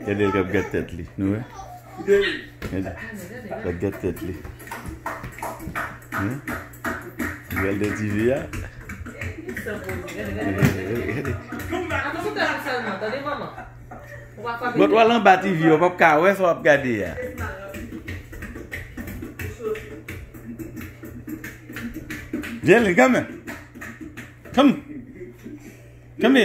Gade l kap gad tèt li nou wè. Gade lap gad tèt li. Gade de ti vi a. Bòt wal anba ti vi yo pap ka wè sa wap gade a. Vye li kame. Kame. Kame.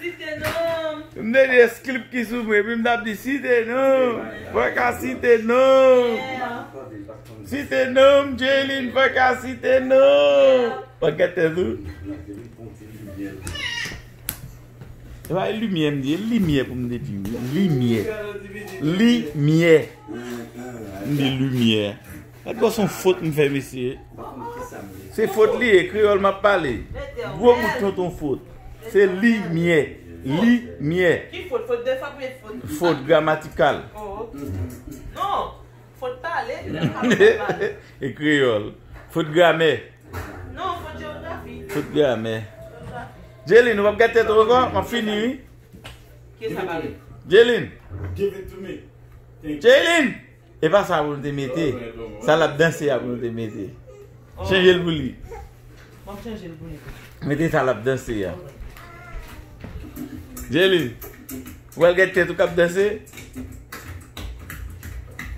Si te nonm. M te di es klip ki sou mwen epi m tap di si te nonm mwen ka si te nonm Si te nonm Jaylin mwen ka si te nonm Mwen gen tèt ou E pa e limyè m di e limyè pou m te di limyè Limyè M di limyè Gad bon son fot m fè mesye. Se fot li ye kreyol map pale. Gwo bout tonton fot. Se li myè. Li myè. Ki fot? Fot de fap met fot. Fot gramatikal. Oh ok. Non. Fot pale. E kreyol. Fot gramè. Non fot geografi. Fot gramè. Jeline ou pap gad tèt ou anko? Map fini wi. Kesa pale? Jeline. Give it to me. Jeline. E pa sa pou l te mete. Sa l ap danse a pou l te mete. Chanje l pou li. Mete sa l ap danse a. Jeli. Ou wè l gen tèt ou k ap danse?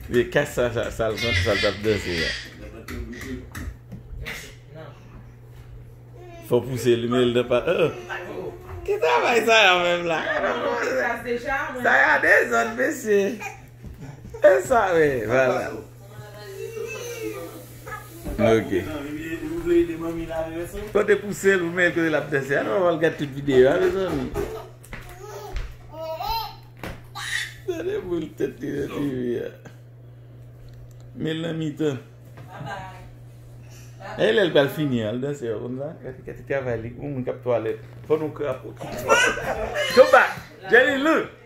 Mete kas sa sa l konte sa l t ap danse a. Fò pouse l men l nan pa. Ki travay sa y a menm la? Sa y a dezòd mesye. E sa we vava. Ok. Kote pou sel ou men kote lap dese. Anou aval gade tout videyo a mezanmi. Dade pou l tet li nan ti vi a. Mel nan mitan. E lel pral fini al dese yo konn la. Kati kati travay li. Moun moun kap twale. Fon nou krapo. Go back. Jenny look.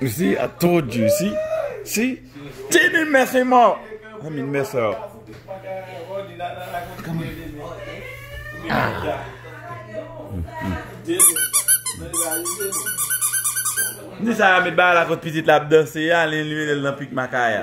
You see I told you see see Tine mèsi mò I mean mèsi yo Ni sa yo met bagay la kot pitit la ap danse a li elimine l nan pik makaya.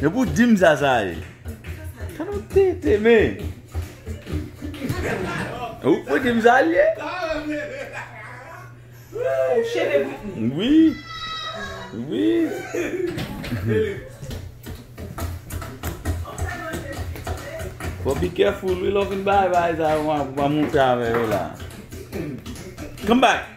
Epi ou dim sa sa ye. Sa nou tenten men. Ou pou dim sa li ye. Fò bi kèful wi lò fin bay bay sa yo pou pa moun fè avè yo la. Come back.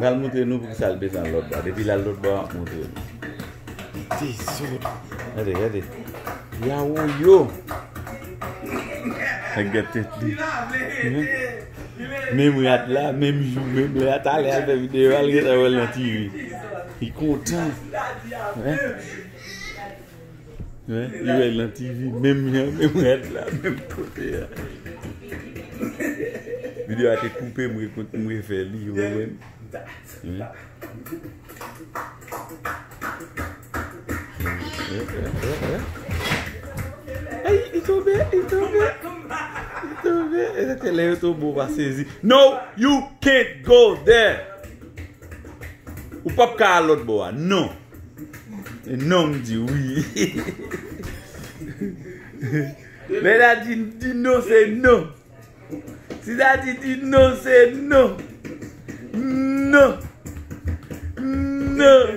Lal moutre nou poukisa l desann lòt ba depi lal lòt bò map moutre nou Dezòd Gade gade Yawoyo Nèg gen tèt li Menm rad la menm jou menm lè a talè al fè videyo al gentan wèl nan TV Li kontan Menm jou Li wè nan TV menm jan menm rad la menm kote a. Video a te koupe m refè li ou wèl. Ey li tonbe li tonbe li tonbe e se te lè yo tonbe ou pa sezi No you can't go there Ou pap ka al lòt bò a non. Non m di wi. Lè Daddy di non se non. Si Daddy di non se non. Non. Non.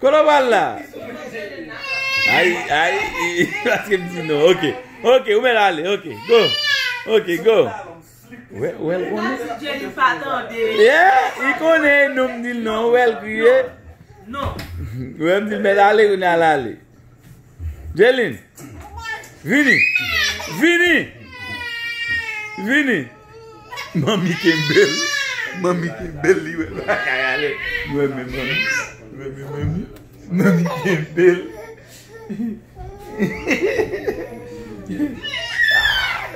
Kono wal la? Ayi, ayi, ayi. Aske m di nou, ok. Ok, ou men ale, ok. Go. Ok, go. Ou el konen? Ou el konen? Yeah, ou konen nou m di nou, ou el konen? Non. Ou el m di men ale, ou nan ale. Jaylin! Vini! Vini! Vini! Manmi kenbe l. Manmi kenbe l li wè l pa ka ale. Li renmen manmi. Li renmen manmi. Manmi kenbe l.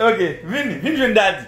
Ok, vini. Vini jwenn dadi.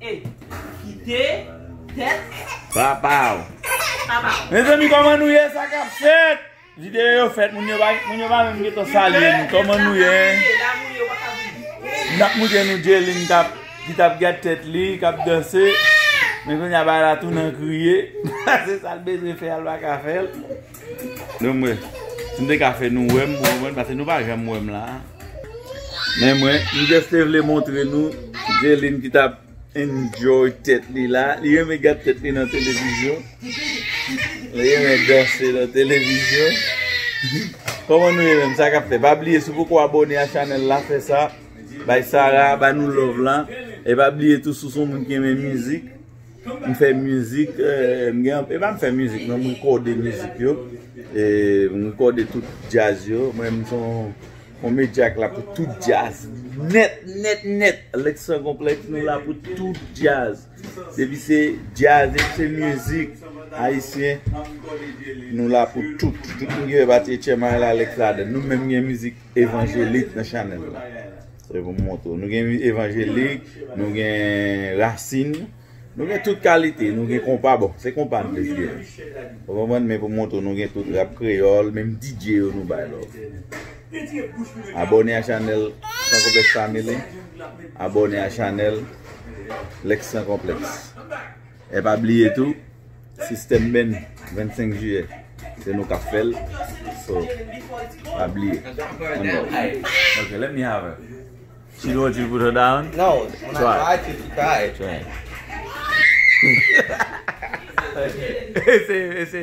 E. Kite. Tèt. Papa w. Papa w. Mezanmi koman nou ye sa kap fèt. Videyo yo fèt moun yo pa moun yo pa menm gen tan salye nou koman nou ye. Nap moutre nou Djelin kap ki tap gad tèt li kap danse. Men kounye a bagay la tou nan kriye. Se sal bezwen fè a l pa ka fè l. Nou mwen, si m te ka fè nou wè m pou mwen, pase nou pa janm wè m la. Men mwen, m just te vle montre nou Gelin ki tap enjoy tèt li la. Li renmen gad tèt li nan televizyon. Li renmen danse nan televizyon. Koman nou ye menm, sa kap fè? Pa bliye si w poko abone a chanèl la, fè sa. Bay Sarah, ba nou love la. E pa bliye tou si w son moun ki renmen mizik. M fè mizik, m gen anpil, e pa m fè mizik non, m rekòde mizik yo, m rekòde tout djaz yo, mwen menm m se yon medya k la pou tout djaz, nèt, nèt, nèt, Lèks San Konplèks nou la pou tout djaz, depi se djaz, depi se mizik ayisyen, nou la pou tout, tout moun ki fè pati Etchyèman la, Lèks ladann, nou menm gen mizik evanjelik nan chanèl la. Se pou m montre w. Nou gen evanjelik, nou gen rasin, nou gen tout kalite, nou gen konpa bon. Se konpa m plis gen. Ou konprann men pou m montre w nou gen tout rap kreyòl, menm DJ yo nou bay lòv. Abòne a chanèl San Konplèks Family. Abòne a chanèl Lexx San Konplèks. E pa bliye tou sistèm beny 25 jiyè se nou kap fèl so pa bliye one love ok let me have her she don't want you to put her down no when I try to she cry try ese ese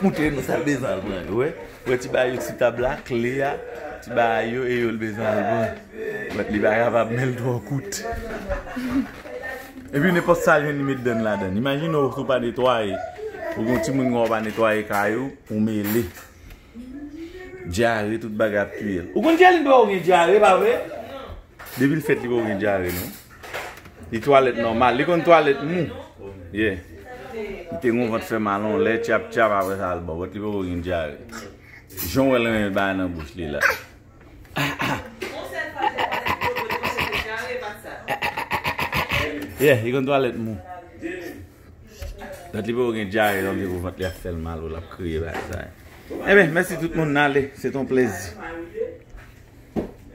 Koute nou sa bezwen al pran yo wè wè ti bayo ti tab la kle a ti bayo e yo l bezwen al pran bat li pa kapab men l twò kout epi nenpòt sa l jwenn li met dan l ladan l imajine w si w pa netwaye ou gen yon timoun kòm w pa netwaye kay ou ou mele dyare tout bagay ap touye l ou konn jalin pa w gen dyare pa vre depi l fèt li pa w gen dyare non. Li twalet nòmal, li konn twalet mou. Ye. Li te gon vant fè mal on lè tchap tchap apre sa al bòbòt li poko gen dyare. Jan wèl renmen bagay nan bouch li la. Ye, li konn twalet mou. Dat li poko gen dyare lòm li pou vant li ap fèl mal ou lap kriye bagay sa. Enben, mèsi tout moun nale, se ton plezi.